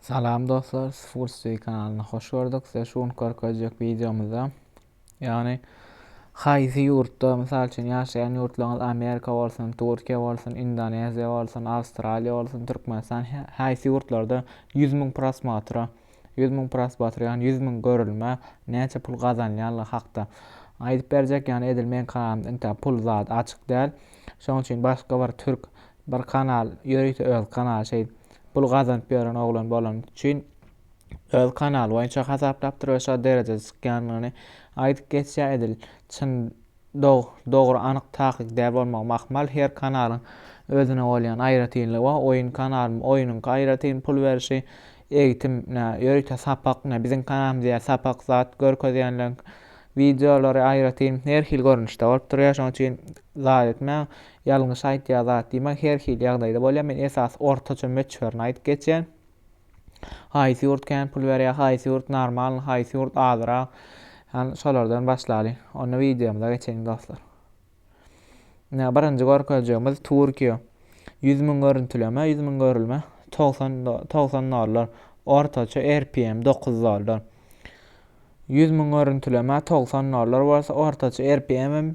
Salam dostlar, Sports TV kanalyna hoş gördük. Size şu gün görkezjek videomyzda, ýagny haýsy ýurtda, mysal üçin ýaşaýan ýurtlaryňyz Amerika bolsun, Türkiýe bolsun, Indoneziýa bolsun, Awstraliýa bolsun, Türkmenistan, haýsy ýurtlarda 100 müň prosmotra, 100 müň prosmotra, ýagny 100 müň görülmä näçe pul gazanýanlygy hakda aýdyp berjek. Ýagny edil meň kanalymda intäk pul zat açyk däl. Şonuň üçin başga bir türk Bir kanal ýörite öz kanaly şeýdip pul gazanyp ýören oglan bolany üçin öz kanaly boýunça hasaplapdyr we şo derejede çykýandygyny aýdyp geçýär edil çyn dogry anyk takyk däl bolmagym ahmal her kanalyň özüne bolýan aýratynlygy bar oýun kanaly oýunyňky aýratyn pul berişi egtim nä ýörite sapak nä biziň kanalymyz ýa sapak zat görkezýänleriň wideolary aýratyn her hil görnüşde bolup durýar şonuň üçin zat etmäň Ýalňyş aýtýa zat diýmäň her hili ýagdaýda bolýa men esasy ortaça möçberini aýdyp geçýän. Haýsy ýurt kän pul berýä haýsy ýurt normalny haýsy ýurt azyrak ýagny şolardan başlalyň onda wideomyza geçeliň dostlar. Ine birinji görkezjegimiz Türkiýe ýüz müň görüntüleme ýüz müň görülme togsan togsan dollar ortaça rpm dokuz dollar ýüz müň görüntüleme togsan dollar bolsa ortaça rpm hem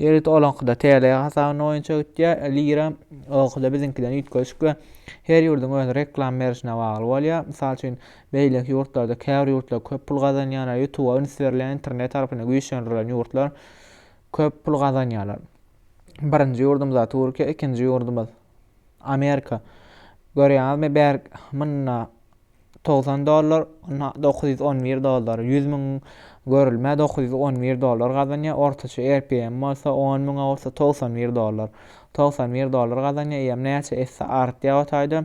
Ýerit olaňkyda TL hasabyna boýunça gitýär, lira oňkyda biziňkiden üýtgeşik we her ýurduň öz reklam berişine bagly bolýar. Mysal üçin, beýleki ýurtlarda käbir ýurtlar köp pul gazanýarlar, ýutuba üns berilýän internet tarapyny güýçlendirilen ýurtlar köp pul gazanýarlar. Birinji ýurdumyz Türkiýe, ikinji ýurdumyz Amerika. Görýäňizmi, bärik munda togsan dollar, na- dokuz ýüz on bir dollar, ýüz müň görülmä dokuz ýüz on bir dollar gazanýar, ortaça RPM bolsa on müňe bolsa togsan bir dollar, togsan bir dollar gazanýar, eýýäm näçe esse artýar o taýda.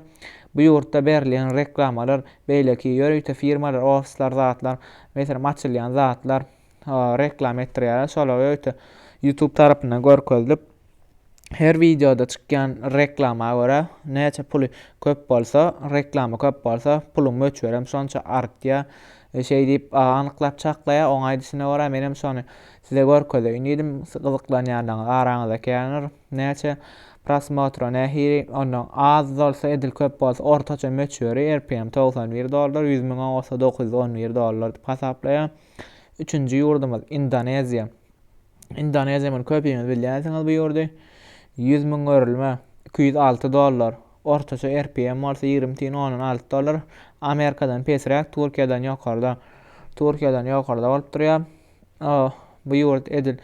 Bu ýurtda berilýän reklamalar, beýleki ýörite firmalar, ofisler, zatlar, meselem, açylýan zatlar, reklama etdirýärler. Şolar öýte YouTube tarapyndan görkezilip, her wideoda çykýan reklama görä näçe puly köp bolsa, reklama köp bolsa, puluň möçberi hem şonça artýar. E, şeý diýip, anyklap çaklaýar. Oň aýdyşyna görä, men hem şony size görkezeýin diýdim. Gyzyklanýanlaryňyz araňyzda käniňiz. Näçe prosmotro nähili, ondan az bolsa, edil köp bolsa, ortaça möçberi RPM 91 dollar, 100 müň bolsa 911 dollar diýip hasaplaýar. Üçünji ýurdumyz Indoneziýa. Indoneziýa muny köpimiz bilýänsiňiz bu ýurdy. 100 müň örülme 206 dollar. Ortaça RPM bolsa 20 tiýin 10 6 dollar. Amerikadan pesräk, Türkiýeden ýokarda. Türkiýeden ýokarda bolup durýar. Bu ýurt edil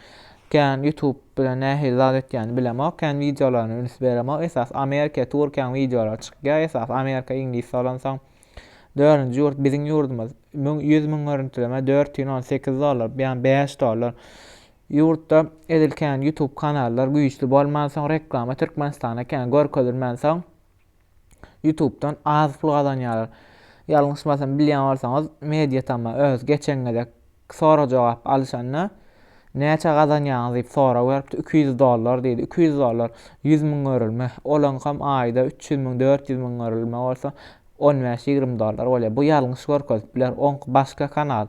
kän YouTube bilen nähili zat etýäni bilemok, kän wideolaryna üns beremok. Esas Amerika, Türkiýäň wideolary çykýar. Esas Amerika, Iňlis soransoň. Dördünji ýurt biziň ýurdumyz. Müň, ýüz müň görüntüleme, dört ýüz on sekiz dollar, ýa bäş dollar. Ýurtda edil kän YouTube kanallar güýçli bolmansoň, reklama Türkmenistana kän görkezilmänsoň, YouTube'dan az pul gazanýarlar. Ýalňyşmasam bilýän bolsaňyz, Mediatama öz geçen gezek Sorag-jogap alyşanda, Näçe gazanýaňyz? diýip sorag beripdi. Iki ýüz dollar diýdi. Iki ýüz dollar, ýüz müň görülme. Olaňkam aýda üç ýüz müň, dört ýüz müň görülme bolsa, on bäş, ýigrimi dollar bolýar. Bu ýalňyş görkezip biler. Oňky başga kanal.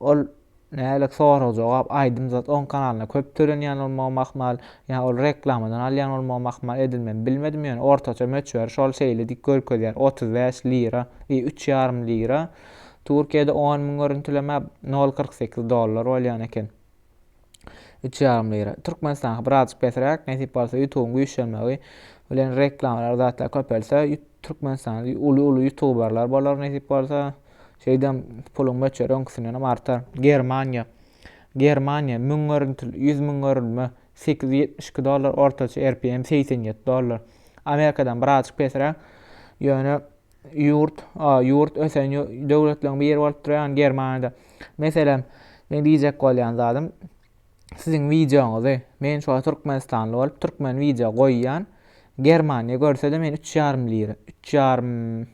Ol nälik sorag-jogap, aýdym zat oň kanalyna köp tölenýän bolmagam ahmal. Ýa ol reklamadan alýan bolmagam ahmal. Edil men bilmedim, ýöne ortaça möçberi şol şeýle diýip görkezýär. Otuz bäş lira, i, üç ýarym lira. Türkiýede on müň görüntüleme nol kyrk sekiz dollar bolýan eken. Üç ýarym lira. Türkmenistanky birazjyk pesräk, nesip bolsa ýutubyň güýçlenmegi bilen reklamalar zatlar köpelse, Türkmenistanda uly uly ýutubarlar bolar nesip bolsa. Şeýdem puluň möçberi öňküsindenem artar. Germaniýa. Germaniýa müň görüntül ýüz müň görülme sekiz ýüz ýetmiş iki dollar ortaça RPM segsen ýedi dollar. Amerikadan birazjyk pesräk, ýöne ýurt, a, ýurt ösen ýo- döwletleriň biri bolup durýan Germaniýada. Meselem, men diýjek bolýan zadym, siziň wideoňyzy, men şu wagt türkmenistanly bolup, türkmen wideo goýýan, Germaniýa görse-de men üç ýarym lira, üç ýarym,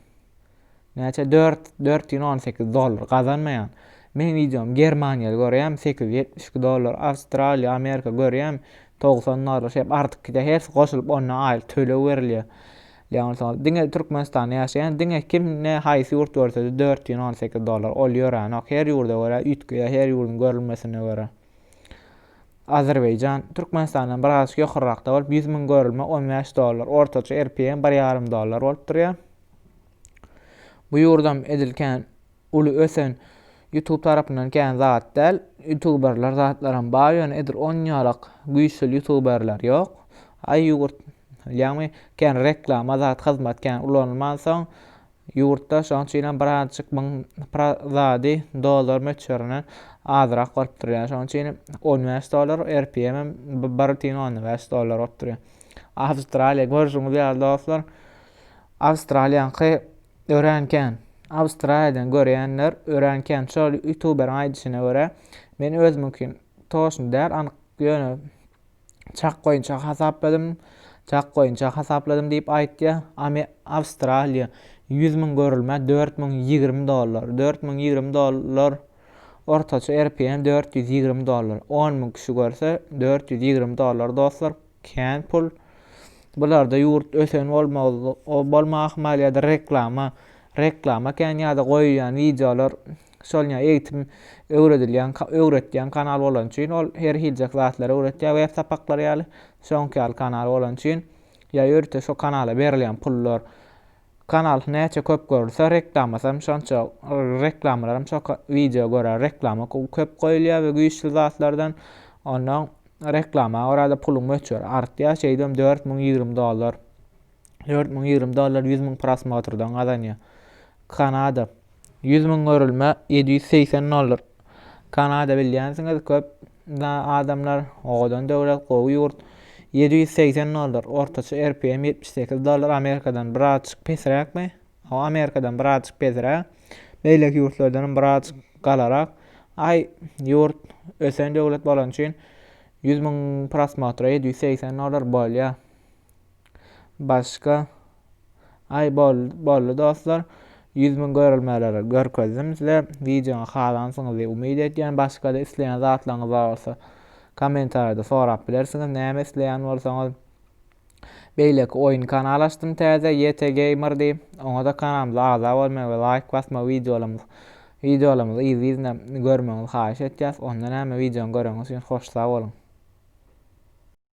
näçe, dört, dört ýüz on sekiz dollar gazanmaýan. Meň wideom Germaniýaly görýäm, sekiz ýüz ýetmiş iki dollar, Awstraliýa, Amerika görýäm, togsan dollar, şeýdip artyk gidýär, hersi goşulyp onda aýlyk töleg berilýär. Ýaňylsaňyz diňe Türkmenistanda ýaşaýan diňe kim ne haýsy ýurt görsede dört ýüz on sekiz dollar ol ýöränok her ýurda görä üýtgeýär her ýurdyň görülmesine görä. Azerbaýjan Türkmenistandan bir az ýokarrakda bolup ýüz müň görülme on bäş dollar ortaça rpm bir ýarym dollar bolup durýar. Bu ýurdam edil kän uly ösen YouTube tarapyndan kän zat däl. Youtuberler zatlaram bar ýöne edil onýalak güýçli youtuberler ýok. Aý ýurt Ýagny, kän reklama, zat, hyzmat kän ulanylmansoň, ýurtda şonuň üçin hem birazajyk muň pra zady dollar möçberinden azrak bolup dur. Ýa şonuň üçin on bäş dollar, RPM hem bi bir bütin onda bäş dollar bolup dur. Awstraliýa, görşüňiz ýaly dostlar, Awstraliýaňky örän kän. Awstraliýadan görýänler örän kän. Şol ýutuberiň aýdyşyna görä, men özümiňki toşun däl, anyk ýöne Çak boýunça hasapladym, çak boýunça hasapladym diýip aýtýar. Ame Awstraliýa 100 müň görülmä 4020 dollar. 4020 dollar ortaça RPM 420 dollar. 10 müň kişi görse 420 dollar dostlar. Kän pul. Bularda ýurt ösen bolmagy bolmagy ahmal ýa-da reklama reklama kän ýa-da goýýan wideolar Şol ýa eýitim öwredilýän, öwretýän kanal bolany üçin ol her hiljek zatlary öwretýär, web sapaklary ýaly, şoňky ýaly kanal bolany üçin ýa ýörite şo kanala berilýän pullar, kanal näçe köp görülse reklamasam şonça reklamalaram şo wideo görä reklama köp goýulýar we güýçli zatlardan ondan reklama görä-de puluň möçberi artýar, şeýdibem dört müň ýigrimi dollar Dört müň ýigrimi dollar ýüz müň prosmotrdan gazanýar. Kanada. Ýüz müň görülme ýedi ýüz segsen dollar. Kanada bilýänsiňiz köp adamlar owadan döwlet, gowy ýurt. Ýedi ýüz segsen dollar. Ortaça RPM ýetmiş sekiz dollar. Amerikadan birazjyk pesräkmi? O Amerikadan birazjyk pesräk. Beýleki ýurtlardanam birazjyk galarak. Aý, ýurt ösen döwlet bolany üçin ýüz müň prosmotra ýedi ýüz segsen dollar bolýar. Başga Aý boldy boldy dostlar. Ýüz müň görelmeleri görkezdim size. Wideony halansyňyzy umyt edýän. Başgada isleýän zatlaryňyz bar bolsa kommentariýada sorap bilersiňiz. Näme isleýän bolsaňyz. Beýleki oýun kanal açdym täze YT Gamer diýip. Oňa-da kanalymyza agza bolmagy we laýk basmagy wideolarymyz wideolarymyzy yzly-yzyna görmegiňizi haýyş etýäs. Onda näme wideony göreniňiz üçin hoş sag boluň.